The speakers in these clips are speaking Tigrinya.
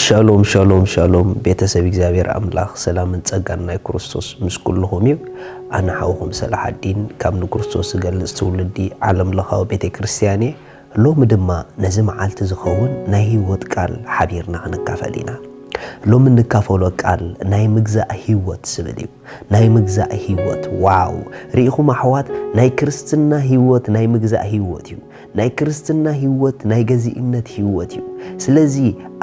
ሻሎም ሻሎም ሻሎም ቤተሰብ እግዚኣብሔር ኣምላኽ ሰላምን ጸጋን ናይ ክርስቶስ ምስ ኩልኹም እዩ ኣነ ሓውኹም ሰላሓዲን ካብ ንክርስቶስ ዝገልጽ ትውልዲ ዓለም ለኻዊ ቤተ ክርስቲያን እየ ሎሚ ድማ ነዚ መዓልቲ ዝኸውን ናይ ህይወት ቃል ሓቢርና ክንካፈል ኢና። ሎሚ እንካፈሎ ቃል ናይ ምግዛእ ህይወት ዝብል እዩ። ናይ ምግዛእ ህይወት ዋው ርኢኹም ኣሕዋት ናይ ክርስትና ህይወት ናይ ምግዛእ ህይወት እዩ። ናይ ክርስትና ህይወት ናይ ገዚእነት ህይወት እዩ። ስለዚ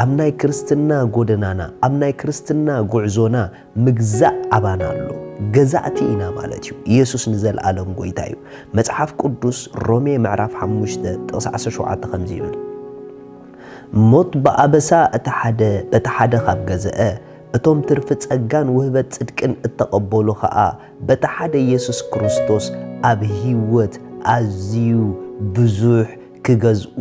ኣብ ናይ ክርስትና ጎደናና ኣብ ናይ ክርስትና ጉዕዞና ምግዛእ ኣባና ኣሎ፣ ገዛእቲ ኢና ማለት እዩ። የሱስ ንዘልኣለም ጎይታ እዩ። መጽሓፍ ቅዱስ ሮሜ ምዕራፍ ሓሙሽተ ጥቕሲ ዓሰርተ ሸውዓተ ከምዚ ይብል፣ ሞት ብኣበሳ እቲ ሓደ በቲ ሓደ ካብ ገዘአ፣ እቶም ትርፊ ጸጋን ውህበት ጽድቅን እተቐበሉ ኸኣ በቲ ሓደ የሱስ ክርስቶስ ኣብ ህይወት ኣዝዩ ብዙሕ ክገዝኡ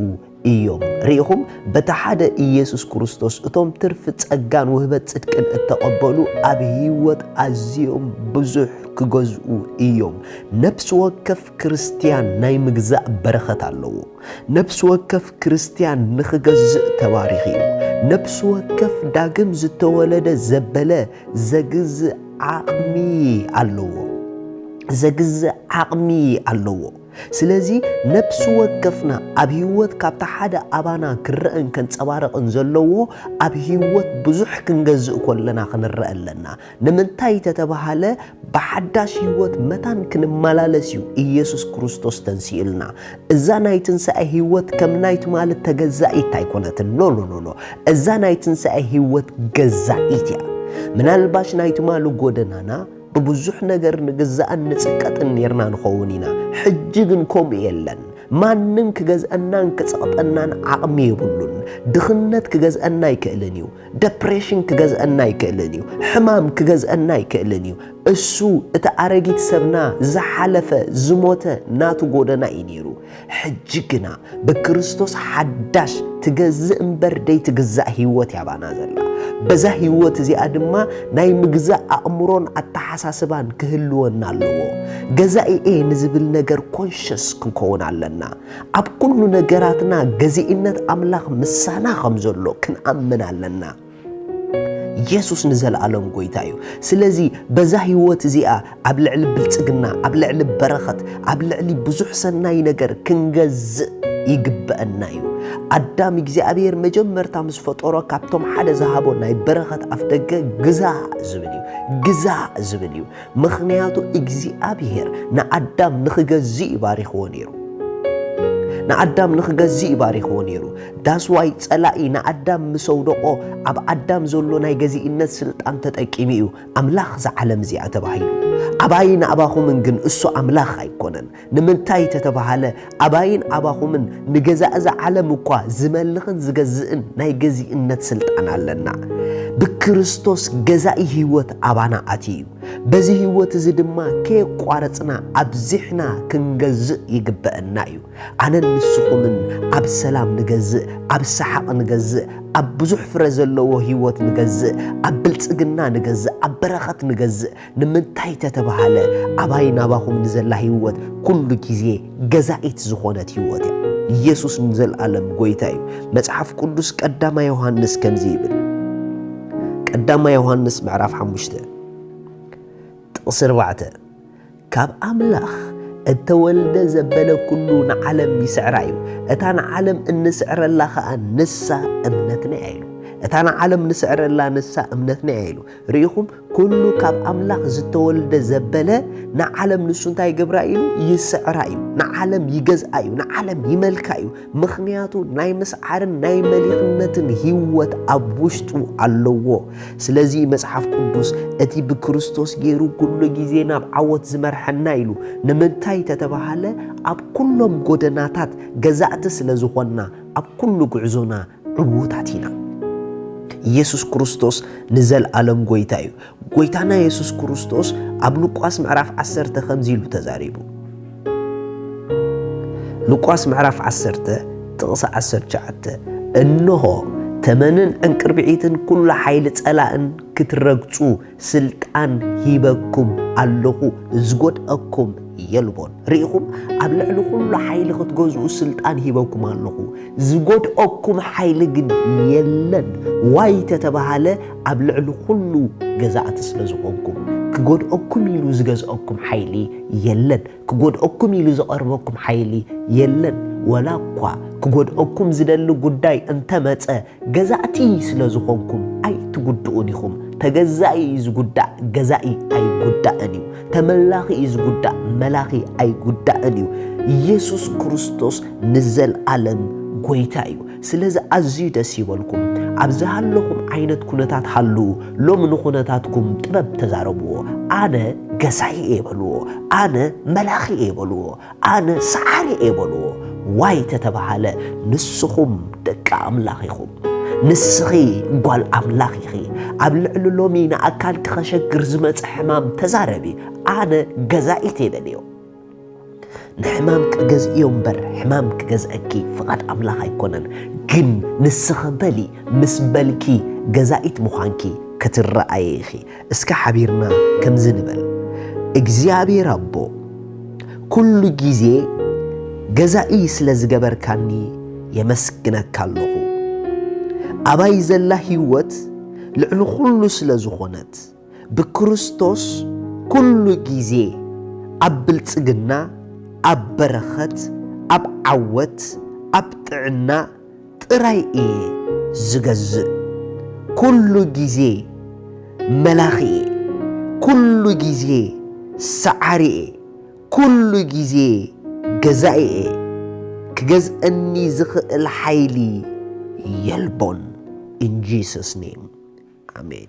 እዮም። ርኢኹም፣ በቲ ሓደ ኢየሱስ ክርስቶስ እቶም ትርፊ ጸጋን ውህበት ጽድቅን እተቐበሉ ኣብ ህይወት ኣዝዮም ብዙሕ ክገዝኡ እዮም። ነፍሲ ወከፍ ክርስትያን ናይ ምግዛእ በረኸት ኣለዎ። ነፍሲ ወከፍ ክርስትያን ንኽገዝእ ተባሪኽ እዩ። ነፍሲ ወከፍ ዳግም ዝተወለደ ዘበለ ዘግዝእ ዓቕሚ ኣለዎ። ዘግዝእ ዓቕሚ ኣለዎ። ስለዚ ነብሲ ወከፍና ኣብ ህይወት ካብታ ሓደ ኣባና ክረእን ከንጸባርቕን ዘለዎ ኣብ ህይወት ብዙሕ ክንገዝእ ኮለና ክንረእ ኣለና። ንምንታይ ተተባህለ ብሓዳሽ ህይወት መታን ክንመላለስ እዩ ኢየሱስ ክርስቶስ ተንሲኡልና። እዛ ናይ ትንሳኤ ህይወት ከም ናይ ትማሊ ተገዛኢት ኣይኮነትን ኖኖኖኖ እዛ ናይ ትንሳኤ ህይወት ገዛኢት እያ። ምናልባሽ ናይ ትማሊ ጎደናና ብብዙሕ ነገር ንግዛእን ንጽቀጥን ኔርና ንኸውን ኢና። ሕጂ ግን ከምኡ የለን። ማንም ክገዝኣናን ክጸቕጠናን ዓቕሚ የብሉን። ድኽነት ክገዝኣና ኣይክእልን እዩ። ደፕሬሽን ክገዝኣና ኣይክእልን እዩ። ሕማም ክገዝኣና ኣይክእልን እዩ። እሱ እቲ ኣረጊት ሰብና ዝሓለፈ ዝሞተ ናቱ ጎደና እዩ ኔሩ። ሕጂ ግና ብክርስቶስ ሓዳሽ ትገዝእ እምበር ደይትግዛእ ህይወት እያ ባና ዘላ። በዛ ህይወት እዚኣ ድማ ናይ ምግዛእ ኣእምሮን ኣተሓሳስባን ክህልወና ኣለዎ። ገዛኢ እየ ንዝብል ነገር ኮንሸስ ክንከውን ኣለና። ኣብ ኩሉ ነገራትና ገዚእነት ኣምላኽ ምሳና ከም ዘሎ ክንኣምን ኣለና። የሱስ ንዘለኣለም ጎይታ እዩ። ስለዚ በዛ ህይወት እዚኣ ኣብ ልዕሊ ብልጽግና፣ ኣብ ልዕሊ በረኸት፣ ኣብ ልዕሊ ብዙሕ ሰናይ ነገር ክንገዝእ ይግበኣና እዩ። ኣዳም እግዚኣብሔር መጀመርታ ምስ ፈጠሮ ካብቶም ሓደ ዝሃቦ ናይ በረኸት ኣፍደገ ግዛእ ዝብል እዩ። ግዛእ ዝብል እዩ። ምኽንያቱ እግዚኣብሄር ንኣዳም ንኽገዝእ እዩ ባሪኽዎ ነይሩ። ንኣዳም ንኽገዝእ እዩ ባሪኽዎ ነይሩ። ዳስዋይ ጸላኢ ንኣዳም ምስ ኣውደቖ ኣብ ኣዳም ዘሎ ናይ ገዚእነት ስልጣን ተጠቂሙ እዩ ኣምላኽ እዛ ዓለም እዚኣ ተባሂሉ። ኣባይን ኣባኹምን ግን እሱ ኣምላኽ ኣይኮነን። ንምንታይ ተተባህለ ኣባይን ኣባኹምን ንገዛ እዛ ዓለም እኳ ዝመልኽን ዝገዝእን ናይ ገዚእነት ስልጣን ኣለና። ብክርስቶስ ገዛኢ ሕይወት ኣባና ኣትዩ እዩ። በዚ ሕይወት እዚ ድማ ከየቋረጽና ኣብዚሕና ክንገዝእ ይግበእና እዩ። ኣነን ንስኹምን ኣብ ሰላም ንገዝእ፣ ኣብ ሰሓቕ ንገዝእ፣ ኣብ ብዙሕ ፍረ ዘለዎ ሕይወት ንገዝእ፣ ኣብ ብልጽግና ንገዝእ፣ ኣብ በረኸት ንገዝእ፣ ንምንታይ ተተባሃለ ኣባይ ናባኹም ንዘላ ህይወት ኩሉ ግዜ ገዛኢት ዝኾነት ህይወት እያ። ኢየሱስ ንዘልኣለም ጎይታ እዩ። መጽሓፍ ቅዱስ ቀዳማ ዮሐንስ ከምዚ ይብል ቀዳማ ዮሐንስ ምዕራፍ ሓሙሽተ ጥቕሲ ኣርባዕተ ካብ ኣምላኽ እተወልደ ዘበለ ኩሉ ንዓለም ይስዕራ እዩ እታ ንዓለም እንስዕረላ ከዓ ንሳ እምነትና እያ ኢሉ እታ ንዓለም ንስዕረላ ንሳ እምነትና እያ ኢሉ ርኢኹም ኩሉ ካብ ኣምላኽ ዝተወልደ ዘበለ ንዓለም ንሱ እንታይ ይገብራ እዩ ይስዕራ እዩ ንዓለም ይገዝኣ እዩ ንዓለም ይመልካ እዩ ምክንያቱ ናይ ምስዓርን ናይ መሊኽነትን ህይወት ኣብ ውሽጡ ኣለዎ ስለዚ መጽሓፍ ቅዱስ እቲ ብክርስቶስ ገይሩ ኩሉ ግዜ ናብ ዓወት ዝመርሐና ኢሉ ንምንታይ ተተባሃለ ኣብ ኩሎም ጎደናታት ገዛእቲ ስለ ዝኾንና ኣብ ኩሉ ጉዕዞና ዕዉታት ኢና። ኢየሱስ ክርስቶስ ንዘልኣለም ጎይታ እዩ። ጎይታና ኢየሱስ ክርስቶስ ኣብ ሉቃስ ምዕራፍ ዓሰርተ ከምዚ ኢሉ ተዛሪቡ። ሉቃስ ምዕራፍ ዓሰርተ ጥቕሲ ዓሰርተ ትሽዓተ እንሆ ተመንን ዕንቅርቢዒትን ኩሉ ሓይሊ ጸላእን ክትረግጹ ስልጣን ሂበኩም ኣለኹ፣ ዝጎድኣኩም የልቦን። ርኢኹም? ኣብ ልዕሊ ዅሉ ሓይሊ ኽትገዝኡ ስልጣን ሂበኩም ኣለኹ፣ ዝጎድኣኩም ሓይሊ ግን የለን። ዋይ እንተ ተባህለ፣ ኣብ ልዕሊ ዅሉ ገዛእቲ ስለ ዝዀንኩም፣ ክጐድኣኩም ኢሉ ዝገዝኣኩም ሓይሊ የለን። ክጎድኣኩም ኢሉ ዝቐርበኩም ሓይሊ የለን፣ ወላኳ ክጎድኣኩም ዝደሊ ጉዳይ እንተመጸ ገዛእቲ ስለዝኾንኩም ኣይትጉድኡን ኢኹም። ተገዛኢ እዩ ዝጉዳእ ገዛኢ ኣይጉዳእን እዩ። ተመላኺ እዩ ዝጉዳእ መላኺ ኣይጉዳእን እዩ። ኢየሱስ ክርስቶስ ንዘልኣለም ጎይታ እዩ። ስለዚ ኣዝዩ ደስ ይበልኩም። ኣብ ዝሃለኹም ዓይነት ኩነታት ሃልዉ። ሎሚ ንኩነታትኩም ጥበብ ተዛረብዎ። ኣነ ገዛኢ እየ በልዎ። ኣነ መላኺ እየ በልዎ። ኣነ ሰዓሪ እየ በልዎ። ዋይ ተተባሃለ ንስኹም ደቂ ኣምላኽ ኢኹም። ንስኺ ጓል ኣምላኽ ኢኺ። ኣብ ልዕሊ ሎሚ ንኣካልኪ ከሸግር ዝመጸ ሕማም ተዛረቢ። ኣነ ገዛኢት እየ በልዮ። ንሕማም ክገዝእዮ እምበር ሕማም ክገዝእኪ ፍቓድ ኣምላኽ ኣይኮነን ግን ንስኺ በሊ ምስ በልኪ ገዛኢት ምዃንኪ ክትረኣዪ ኢኺ እስከ ሓቢርና ከምዚ ንበል እግዚኣብሔር ኣቦ ኩሉ ጊዜ ገዛኢ ስለ ዝገበርካኒ የመስግነካ ኣለኹ ኣባይ ዘላ ህይወት ልዕሊ ኹሉ ስለ ዝኾነት ብክርስቶስ ኩሉ ጊዜ ኣብ ብልጽግና፣ ኣብ በረኸት፣ ኣብ ዓወት፣ ኣብ ጥዕና ጥራይ እየ ዝገዝእ። ኩሉ ጊዜ መላኺ እየ። ኩሉ ጊዜ ሰዓሪ እየ። ኩሉ ግዜ ገዛኢ'የ፣ ክገዝእኒ ዝኽእል ሓይሊ የልቦን። In Jesus name Amen።